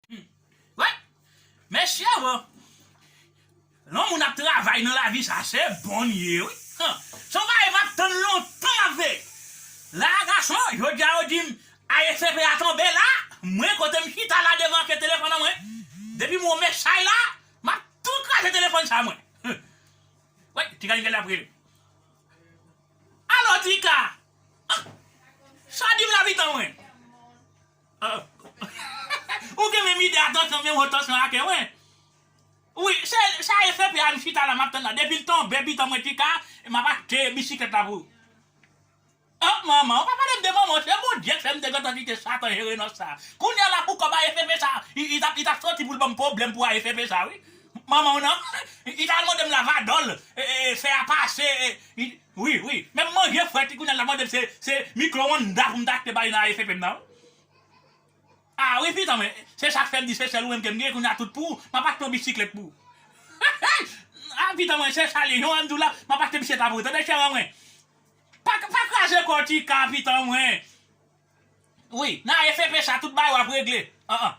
Humm Mesye oh Lon moun ap travay nan lavi sa se bon ye wi Humm Son bagay map tann lontan map veye la gason jodia yo dim ASCP a tonbe la mwen kotem chita la devan ke telefòn an mwen depim wè yon mesay la map tou kraze telefòn sa mwen Humm Woy tika li gade lap rele Alo tika Humm Sa dim la pitan mwen. Ou gen menm ide atansyon menm wo tansyon ake mwen wi sa e CPA m chita la map tann la depil tonbe pitan mwen tika map achte bisiklèt la pou oh manman ou pa palem de manman se Bondyek fèm te gentan kite satan jere nan sa kounya la pou kòb AFP sa li tap soti poul banm pwoblèm pou AFP sa wi manmanw nan li ta al mandem lavadol fè a pase. Wi wi menm manje fret li kounya lap mandem se se micro ondas poum ta achte bay nan ASAP m nan wi ah wi fitan mwen se sak fèm di se sèl ou menm kem gen kounya tout pou map achte yon bisiklèt pou ah fitan mwen se sal ye jan wèm diw la map achte bisiklèt la pou ou tande chère an mwen pa pa kraze kòw tika fitan mwen wi nan ASAP sa tout bagay wap regle an an.